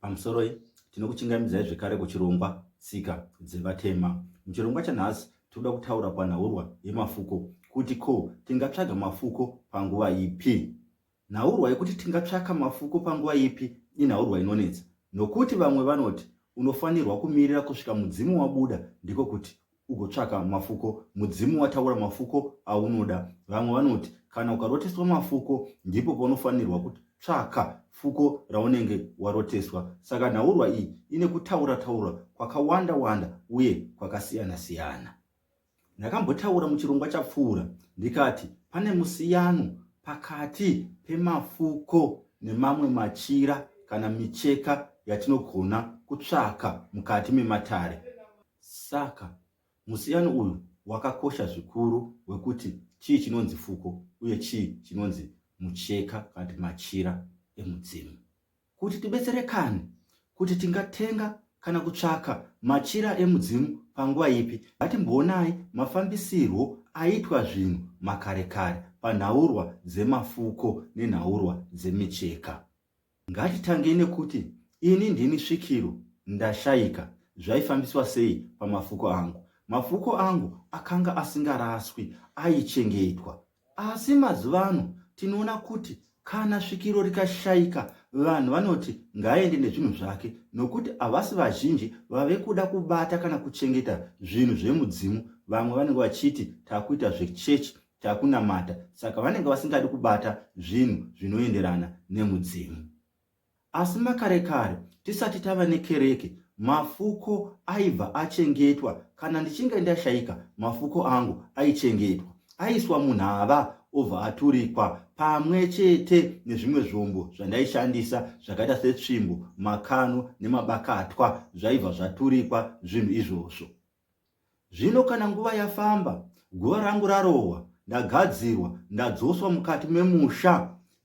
Pamusoroi, tinokuchingamidzai zvekare kuchirongwa Tsika dzeVatema. Muchirongwa chanhasi, tinoda kutaura panhaurwa yemafuko kuti ko tingatsvaga mafuko panguva ipi? Nhaurwa yekuti tingatsvaka mafuko panguva ipi inhaurwa inonetsa nokuti vamwe vanoti unofanirwa kumirira kusvika mudzimu wabuda ndiko kuti ugotsvaka mafuko mudzimu wataura mafuko aunoda vamwe vanoti kana ukaroteswa mafuko ndipo paunofanirwa kutsvaka fuko raunenge waroteswa saka nhaurwa iyi ine kutaura taura kwakawanda wanda uye kwakasiyana siyana ndakambotaura muchirongwa chapfuura ndikati pane musiyano pakati pemafuko nemamwe machira kana micheka yatinogona kutsvaka mukati mematare Saka, musiyano uyu wakakosha zvikuru wekuti chii chinonzi fuko uye chii chinonzi mucheka kana kuti machira emudzimu. Kuti tibetserekane kuti tingatenga kana kutsvaka machira emudzimu panguva ipi, ngatimboonai mafambisirwo aitwa zvinhu makare kare panhaurwa dzemafuko nenhaurwa dzemicheka. Ngatitangei nekuti ini ndini svikiro ndashaika zvaifambiswa sei pamafuko angu. Mafuko angu akanga asingaraswi aichengetwa asi mazuva ano tinoona kuti kana svikiro rikashaika vanhu vanoti ngaaende nezvinhu zvake nokuti havasi vazhinji vave kuda kubata kana kuchengeta zvinhu zvemudzimu vamwe vanenge vachiti takuita zvechechi takunamata saka vanenge vasingadi kubata zvinhu zvinoenderana nemudzimu asi makare kare tisati tava nekereke mafuko aibva achengetwa kana ndichinge ndashaika mafuko angu aichengetwa aiswa munhava obva aturikwa pamwe chete nezvimwe zvombo zvandaishandisa zvakaita setsvimbo makano nemabakatwa zvaibva zvaturikwa zvinhu izvozvo Zvino kana nguva yafamba, guva rangu rarohwa, ndagadzirwa, ndadzoswa mukati memusha,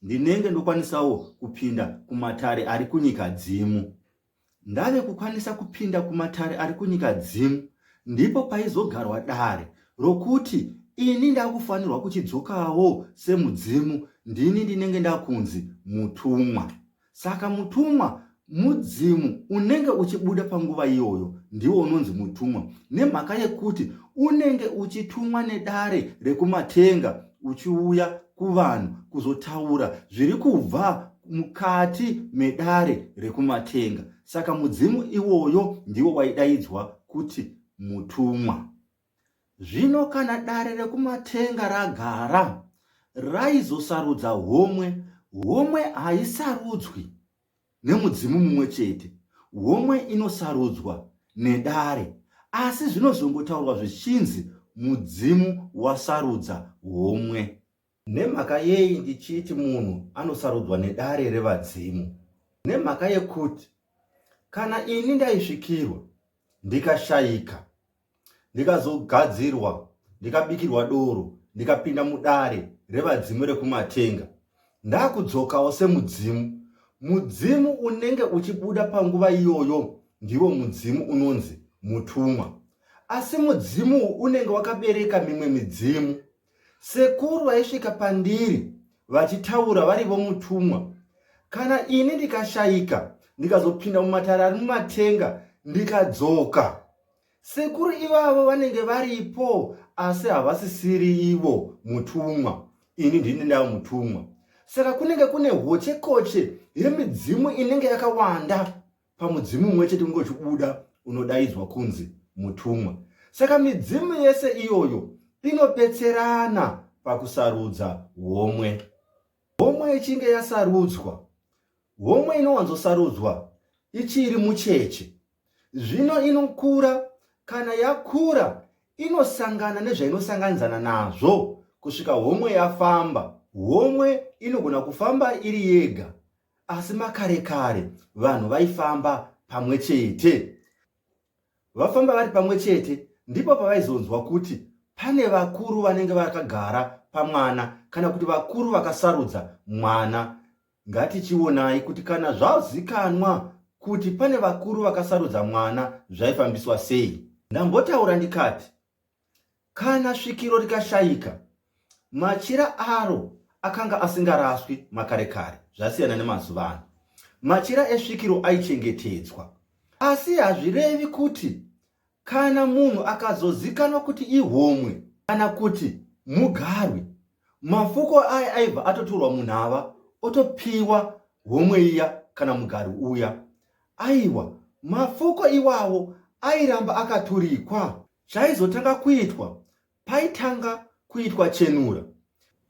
ndinenge ndokwanisawo kupinda kumatare ari kunyika dzimu. Ndave kukwanisa kupinda kumatare ari kunyika dzimu, ndipo paizogarwa dare rokuti ini ndakufanirwa kuchidzokawo semudzimu ndini ndinenge ndakunzi mutumwa Saka mutumwa mudzimu unenge uchibuda panguva iyoyo ndiwo unonzi mutumwa nemhaka yekuti unenge uchitumwa nedare rekumatenga uchiuya kuvanhu kuzotaura zviri kubva mukati medare rekumatenga saka mudzimu iwoyo ndiwo waidaidzwa kuti mutumwa Zvino kana dare rekumatenga ragara, raizosarudza homwe, homwe haisarudzwi nemudzimu mumwe chete, homwe inosarudzwa nedare. Asi zvinozongotaurwa zvichinzi mudzimu wasarudza homwe. Nemhaka yei ndichiti munhu anosarudzwa nedare revadzimu? Nemhaka yekuti kana ini ndaisvikirwa ndikashayika ndikazogadzirwa ndikabikirwa doro ndikapinda mudare revadzimu rekumatenga ndakudzokawo semudzimu mudzimu unenge uchibuda panguva iyoyo ndiwo mudzimu unonzi mutumwa asi mudzimu unenge wakabereka mimwe midzimu Sekuru vaisvika pandiri vachitaura vari vomutumwa. Kana ini ndikashaika ndikazopinda mumatare ari mumatenga ndikadzoka, sekuru ivavo vanenge varipo asi havasisiri ivo mutumwa, ini ndini ndava mutumwa. Saka kunenge kune hochekoche yemidzimu inenge yakawanda. pamudzimu mumwe chete unge uchibuda unodaidzwa kunzi mutumwa saka midzimu yese iyoyo inobetserana pakusarudza homwe homwe ichinge yasarudzwa homwe inowanzosarudzwa ichiri mucheche zvino inokura kana yakura inosangana nezvainosanganidzana nazvo kusvika homwe yafamba homwe inogona kufamba iri yega Asi makare kare vanhu vaifamba pamwe chete. Vafamba vari pamwe chete ndipo pavaizonzwa kuti pane vakuru vanenge vakagara pamwana kana kuti vakuru vakasarudza mwana. Ngatichionai kuti kana zvazikanwa kuti pane vakuru vakasarudza mwana zvaifambiswa sei. Ndambotaura ndikati Kana svikiro rikashaika, machira aro akanga asingaraswi makare kare zvasiyana nemazuva ano. Machira esvikiro aichengetedzwa. Asi hazvirevi kuti kana munhu akazozikanwa kuti ihomwe kana kuti mugarwi mafuko aya aibva atotorwa munhu ava otopiwa homwe iya kana mugarwi uya aiwa mafuko iwawo airamba akaturikwa Chaizotanga kuitwa paitanga kuitwa chenura.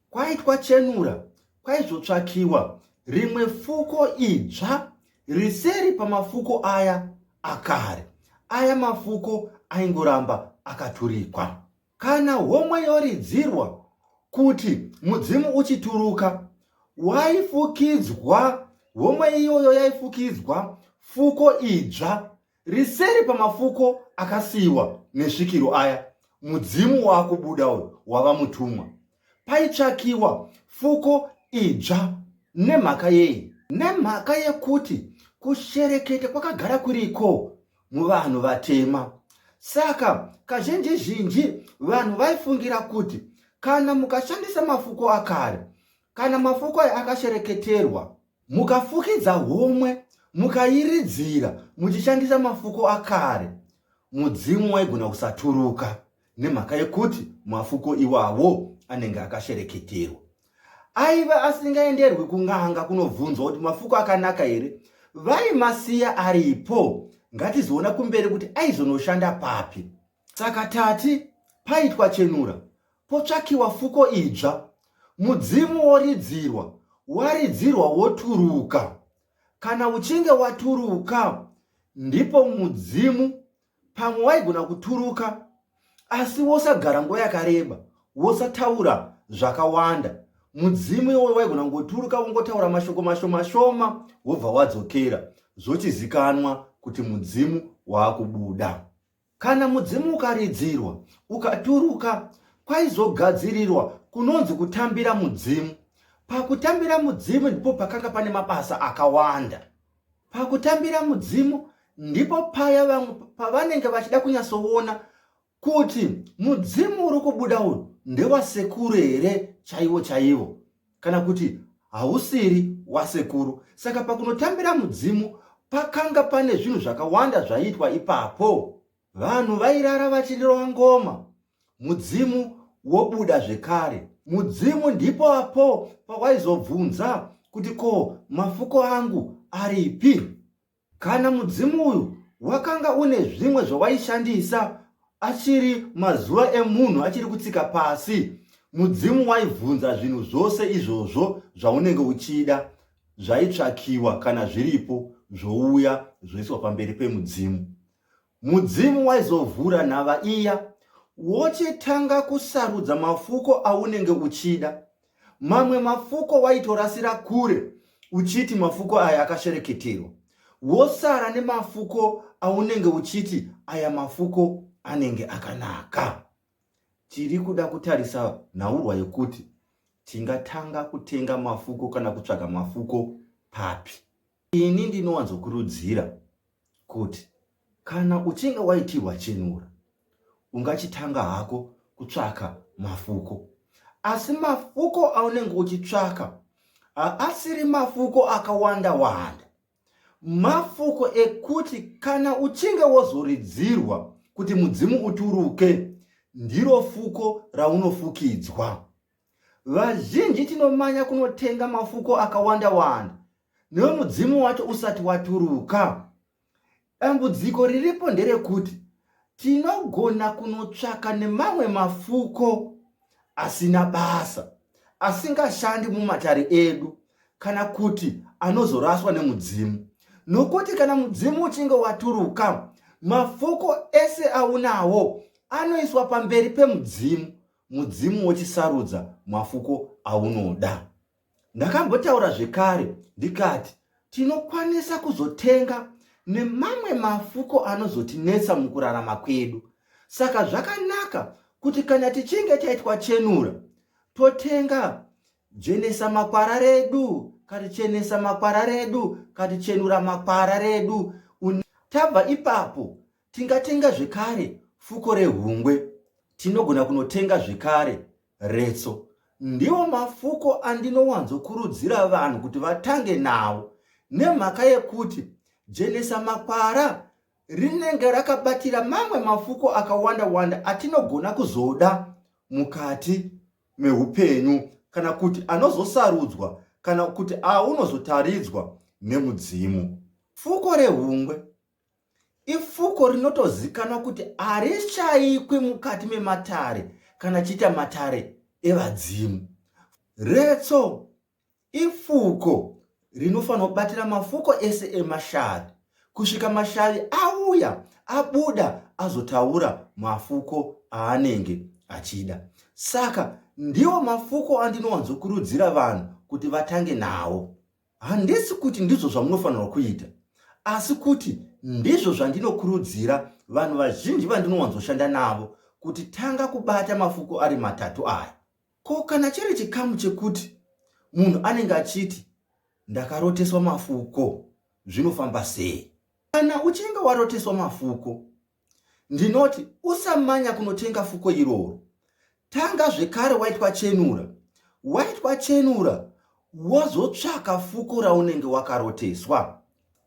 Kwaitwa chenura, kwaizotsvakiwa rimwe fuko idzva riseri pamafuko aya akare. Aya mafuko aingoramba akaturikwa. Kana homwe yoridzirwa kuti mudzimu uchituruka, waifukidzwa homwe iyoyo yaifukidzwa fuko idzva riseri pamafuko akasiyiwa nesvikiro aya mudzimu waakubuda uyu wava mutumwa paitsvakiwa fuko idzva nemhaka yei nemhaka yekuti kushereketa kwakagara kuriko muvanhu vatema saka kazhinji zhinji vanhu vaifungira kuti kana mukashandisa mafuko akare kana mafuko aya akashereketerwa Mukafukidza homwe mukairidzira muchishandisa mafuko akare, mudzimu waigona kusaturuka nemhaka yekuti mafuko iwawo anenge akashereketerwa. Aive asingaenderwi kun'anga kunobvunzwa kuti mafuko akanaka here, vaimasiya aripo, ngatizoona kumberi kuti aizonoshanda papi. Saka tati paitwa chenura, Potsvakiwa fuko idzva, mudzimu woridzirwa, waridzirwa woturuka. Kana uchinge waturuka, ndipo mudzimu pamwe waigona kuturuka, asi wosagara nguva yakareba, wosataura zvakawanda. Mudzimu iwoyo waigona kungoturuka wongotaura mashoko mashomashoma wobva wadzokera, zvochizikanwa kuti mudzimu waakubuda. Kana mudzimu ukaridzirwa ukaturuka, kwaizogadzirirwa kunonzi kutambira mudzimu. Pakutambira mudzimu ndipo pakanga pane mabasa akawanda. Pakutambira mudzimu ndipo paya vamwe pavanenge vachida kunyatsoona kuti mudzimu uri kubuda uyu ndewasekuru here chaivo chaivo. kana kuti hausiri wasekuru. Saka pakunotambira mudzimu pakanga pane zvinhu zvakawanda zvaiitwa ipapo. Vanhu vairara vachirova ngoma, mudzimu wobuda zvekare. Mudzimu ndipo apo pawaizobvunza kuti ko mafuko angu aripi? Kana mudzimu uyu wakanga une zvimwe zvawaishandisa achiri mazuva emunhu achiri kutsika pasi, mudzimu waibvunza zvinhu zvose izvozvo zvaunenge uchida zvaitsvakiwa kana zviripo zvouya zvoiswa pamberi pemudzimu. Mudzimu waizovhura nhava iya wochetanga kusarudza mafuko aunenge uchida. Mamwe mafuko waitorasira kure uchiti mafuko aya akashereketerwa, wosara nemafuko aunenge uchiti aya mafuko anenge akanaka. Tiri kuda kutarisa nhaurwa yekuti tingatanga kutenga mafuko kana kutsvaga mafuko papi. Ini ndinowanzokurudzira kuti kana uchinge waitirwa chenura ungachitanga hako kutsvaka mafuko asi mafuko aunenge uchitsvaka haasiri mafuko akawanda wanda mafuko ekuti kana uchinge wozoridzirwa kuti mudzimu uturuke ndiro fuko raunofukidzwa vazhinji tinomanya kunotenga mafuko akawanda wanda newe mudzimu wacho usati waturuka dambudziko riripo nderekuti tinogona kunotsvaka nemamwe mafuko asina basa asingashandi mumatare edu kana kuti anozoraswa nemudzimu nokuti kana mudzimu uchinge waturuka mafuko ese aunawo anoiswa pamberi pemudzimu mudzimu wochisarudza mafuko aunoda Ndakambotaura zvekare ndikati tinokwanisa kuzotenga nemamwe mafuko anozotinetsa mukurarama kwedu. Saka zvakanaka kuti kana tichinge taitwa chenura totenga jenesa makwara redu katichenesa makwara redu katichenura makwara redu tabva ipapo Tingatenga zvekare fuko rehungwe. Tinogona kunotenga zvekare retso. Ndiwo mafuko andinowanzokurudzira vanhu kuti vatange nawo nemhaka yekuti jenesa makwara rinenge rakabatira mamwe mafuko akawanda wanda atinogona kuzoda mukati meupenyu kana kuti anozosarudzwa kana kuti aunozotaridzwa nemudzimu fuko rehungwe Ifuko rinotozikanwa kuti harishaikwi mukati mematare kana chiita matare evadzimu. Retso ifuko rinofanirwa kubatira mafuko ese emashavi kusvika mashavi auya abuda azotaura mafuko aanenge achida. Saka ndiwo mafuko andinowanzokurudzira vanhu kuti vatange nawo. Handisi kuti ndizvo zvamunofanirwa kuita, asi kuti ndizvo zvandinokurudzira vanhu vazhinji vandinowanzoshanda navo kuti tanga kubata mafuko ari matatu aya. Ko kana chiri chikamu chekuti munhu anenge achiti ndakaroteswa mafuko zvinofamba sei? Kana uchinge waroteswa mafuko, Ndinoti usamanya kunotenga fuko iroro. Tanga zvekare waitwa chenura. Waitwa chenura wozotsvaka fuko raunenge wakaroteswa.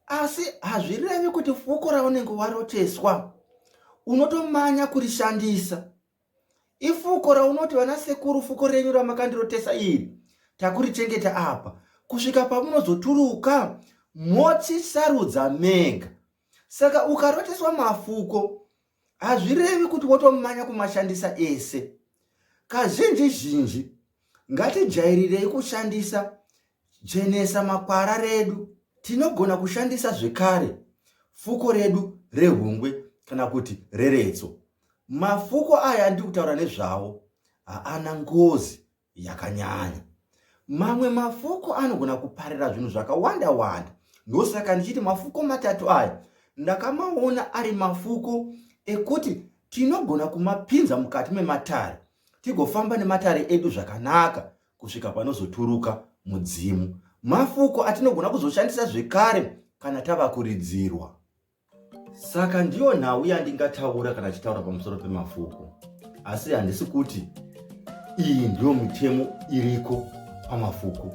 Asi hazvirevi kuti fuko raunenge waroteswa unotomanya kurishandisa. Ifuko raunoti vana sekuru fuko renyu ramakandirotesa iri takurichengeta apa kusvika pamunozoturuka moti sarudza mega saka ukaroteswa mafuko hazvirevi kuti wotomanya kumashandisa ese kazhinji zhinji ngatijairirei kushandisa jenesa makwara redu tinogona kushandisa zvekare fuko redu rehungwe kana kuti reretso mafuko aya andiri kutaura nezvawo haana ngozi yakanyanya. Mamwe mafuko anogona kuparira zvinhu zvakawanda wanda. Ndosaka ndichiti mafuko matatu aya ndakamaona ari mafuko ekuti tinogona kumapinza mukati mematare tigofamba nematare edu zvakanaka kusvika panozoturuka mudzimu. Mafuko atinogona kuzoshandisa zvekare kana tava kuridzirwa. Saka ndiyo nhau yandingataura kana chitaura pamusoro pemafuko, asi handisi kuti iyi ndiyo mitemo iriko pamafuko,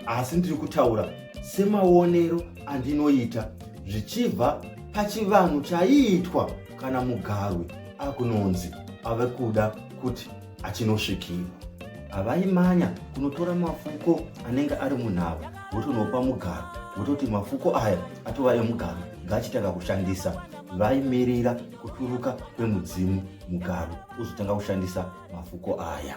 asi ndiri kutaura semaonero andinoita zvichibva pachivanhu chaiitwa kana mugarwi akunonzi ave kuda kuti achinosvikirwa havaimanya kunotora mafuko anenge ari munhava votonopa mugaro vototi mafuko aya atova emugaro ngaachitanga kushandisa vaimirira kuturuka kwemudzimu mugaro uzotanga kushandisa mafuko aya